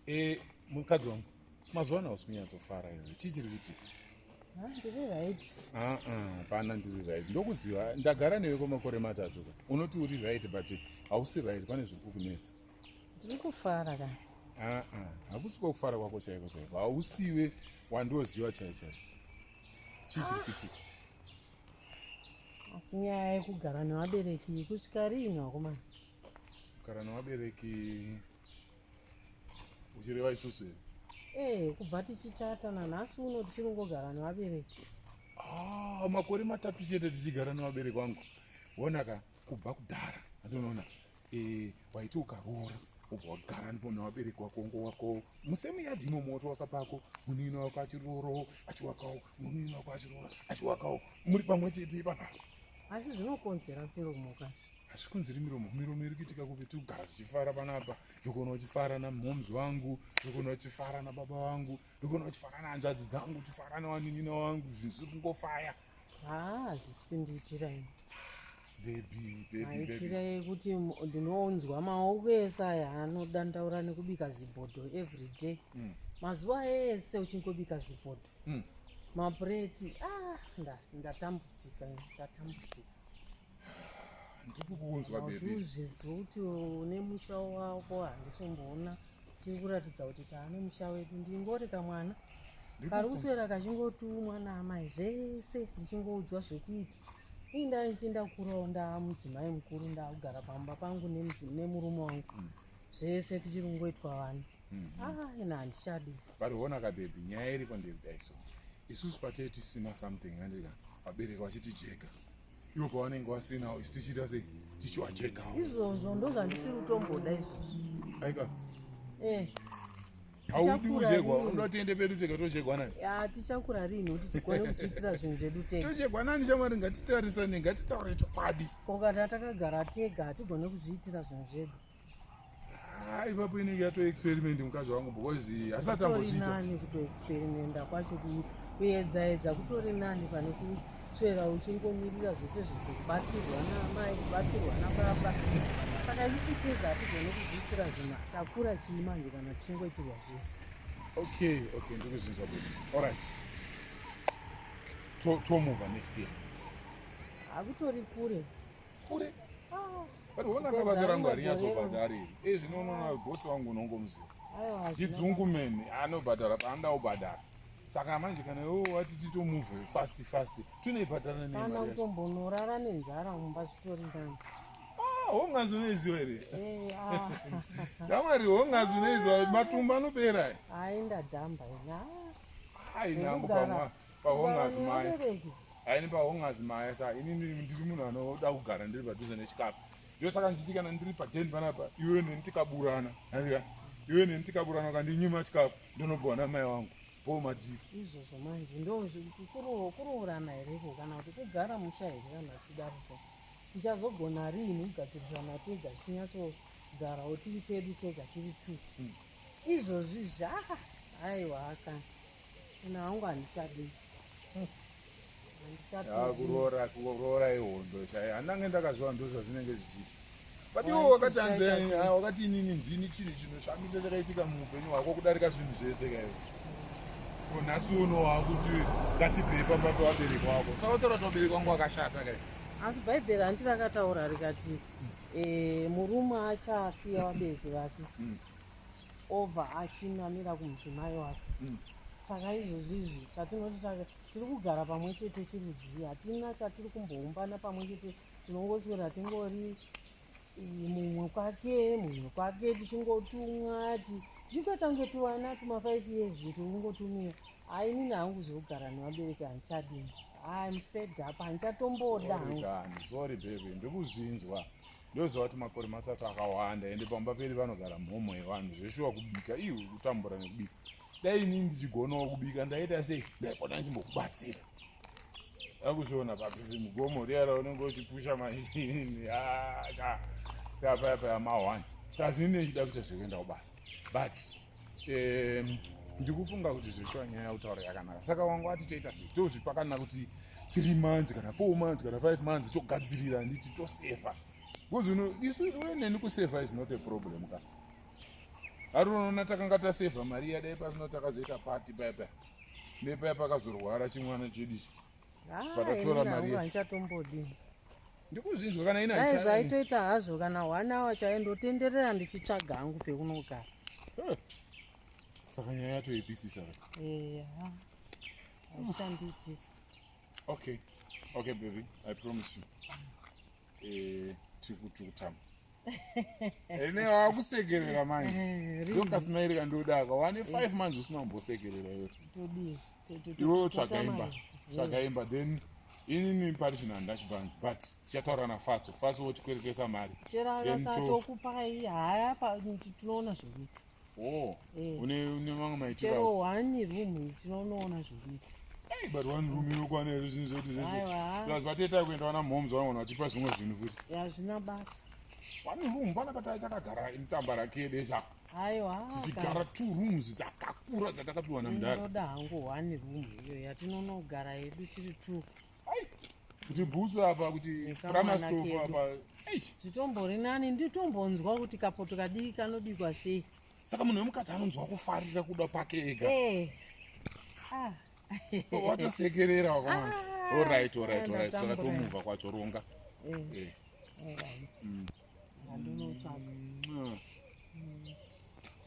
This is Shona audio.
e, mukadzi wangu mazuva ano hausi kunyatsofara iwe chii chiri kuitika ah, ah, pana ndiri right ndokuziva ndagara newe kwemakore matatu ka unoti uri right but hausi right pane zviri kukunetsa ndiri kufara ka ah, hakusi kwekufara kwako chaiko chaiko hausiwe wandioziva chai chai chii chiri kuitika asi nyaya yekugara nevabereki kusvika riini vakomana kugara nevabereki uchireva isusu here ee eh, kubva tichitata nanhasi uno tichiri kungogara nevabereki ah, makore matatu chete tichigara nevabereki vangu wonaka kubva kudhara andinoona eh, waiti ukaroora ubva wagara ndipo nevabereki wako ngo wako musemu yadhi imo moto wakapako munini wako achirooro achiwakawo munini wako achiroora achiwakawo muri pamwe chete ipapa asi zvinokonzera firo mukazvi hazvikonzeri miromo miromo iri kuitika kupi tiri kugara tichifara panapa ndikuona uchifara namhoms wangu ndikuona uchifara nababa vangu ndikuona uchifara nahanzvadzi dzangu uchifara nawaninina wangu zvinhu zviri kungofaya haa hazvisi kundiitira ini bebi aitira yekuti ndinonzwa maoko ese aya anodandaura nekubika zibhodho every day mm. mazuva ese uchingobika zibhodho mm. mapureti ah, ndatambudzika ndatambudzika ndikukunzwa bebizvidzwa kuti une musha wako handisomboona tiri kuratidza kuti taane musha wedu ndingori kamwana kari kuswera kachingotumwa naamai zvese ndichingoudzwa zvekuita ii ndaiti ndakurawo ndaamudzimai mukuru ndaakugara pamba pangu nemurume wangu mm. zvese tichiri kungoitwa vana mm-hmm. ah, ina handichadi variona kabebi nyaya iriko ndeyekudaiso isusu patee tisina something andika vabereki vachitijeka ivo pavanenge vasinawo isi tichiita sei tichiwachekawo izvozvo ndozvandisiri kutomboda izvozvo aika eh haudi kujegwa unoda tiende pedu tega tojegwa nani ya tichakura rini kuti tikone kuchiitira zvinhu zvedu tega tojegwa nani shamwari ngatitarisane ngatitaure chokwadi ko kana takagara tega hatigone kuzviitira zvinhu zvedu Ah, ipapo inenge yatoexperiment mukadzi wangu because hasati amboziitaani kutoexperimenta kwacho kuedzaedza kutori nani pane kuswera uchingomirira zvese zvese kubatsirwa naamai kubatsirwa nababa saka ichititeza hatizone kuzviitira zvinhu takura chii manje kana tichingoitirwa zvese okay okay ndikuzinzwa bodi allright tomova next year hakutori kure kure ah. But wona akabasa rangu harinyazobhadhari. Eh zvino unoona boss wangu unongomuziva. Chidzungu mene anobhadhara paanoda kubhadhara. Saka manje kana iwe wati titomuvhe fast fast tinoibhadhara nei mari yacho? Kana utombonorara nenzara mumba zvitori ndani. Ah, hongazi unoiziva here eh, ah. damwari hongazi unoiziva matumba anopera ayi ndadhamba ina ayi nangu pamwa pahongazi maya haini pahongazi maya sa ini ndiri munhu anoda kugara ndiri padhuze nechikafu ndo saka ndichiti kana ndiri paden panapa iwe neni tikaburana aia iwe neni tikaburana ukandinyima chikafu ndonobwana mai wangu po madii izvozvo manje ndokuroorana hereko kana kuti kugara musha here kana tichidarisa tichazogona riini kugadzirisana tega tichinyatsogarawo tiri pedu tega tiri two hmm. izvozvi zva aiwa akana Ini hangu handichadi. Handichadi. Ah, kuroora kuroora ihondo chaiyo. Handange ndakazviwa ndozva zvinenge zvichiita. But iwo wakati anzi ah, wakati inini ndini chinhu chinoshamisa chakaitika muupenyu hwako kudarika zvinhu zvese kaiwo. Ko nhasi uno wakuti ngatibvei pamba pevabereki wako. Saka utora kuti vabereki wangu wakashata kaiwo. Asi Bhaibheri hanti rakataura rikati eh, murume achaasiya vabereki vake. Mm. obva achinamira kumudzimai wake mm. saka izvozvi izvi zvatinoti tiri kugara pamwe chete chirudzii hatina chatiri kumboumbana pamwe chete tinongoswera tingori mumwe kwake mumwe kwake tichingotumwa tichitoita kunge tuvana tuma five years tikungotumira hai inini hangu zvekugara nevabereki handichadini hayi mfedapa handichatomboda hangu sorry baby ndikuzvinzwa ndoziva kuti makore matatu akawanda ende pamba peri vanogara mhomho yevanhu zveshuwa kubika iu kutambura nekubika dai inini ndichigonawo kubika ndaita sei ndaikona ndimbokubatsira akuzviona pakuzi mugomo riya raunenge uchipusha maizini ah, kapayapaya mawani kazi ini nechida kuita zvekuenda kubasa but um, ndikufunga kuti zveshuwa nyaya yautaura yakanaka saka wangu wati toita sei tozvipa kana kuti three months kana four months kana five months togadzirira nditi toseva bcause uno isu iwe neni kuseva is not a problem ka ari unoona takanga taseva mari yadai pasino takazoita pati paipa nepaya pakazorwara chimwana chedichi patatora mari yese ndikuzvinzwa kana ina dai zvaitoita hazvo kana one hour chaiyo ndotenderera ndichitsvaga hangu pekunogara saka nyaya yatoipisisa eya aichandiitira okay okay baby i promise you eh, tiri kutama ene wakusekerera manje eh, ndokasimairi kandiodaka wane eh. five months usina kumbosekerera iwe iwe tsvaga imba tsvaga imba then inini pari chinhu handachibans but tichataura nafatso fatso wotikweretesa mari tinoona zvekuita Oh, eh. une une mamwe maitiro. Chero wani room tinoona zvekuita. Hey, but one room inokwana here zvinhu zvedu zvese. Plus vateta kuenda wana moms wanaona vachipa zvimwe zvinhu futi. Hazvina basa. One room pana patai takagara mutamba rake desa. Aiwa. Tichigara two rooms dzakakura dzatakapiwa namdara. Ndinoda hangu one room iyo yatinonogara yedu tiri two. kuti bhutsu apa kuti pramastof apa zvitombori nani nditombonzwa kuti kapoto kadii kanobikwa sei saka munhu wemukadzi anonzwa kufarira kuda pake ega eh. ah. watosekerera wakamana ah. orit orit orit saka tomuvha kwacho ronga eh. Eh. Mm.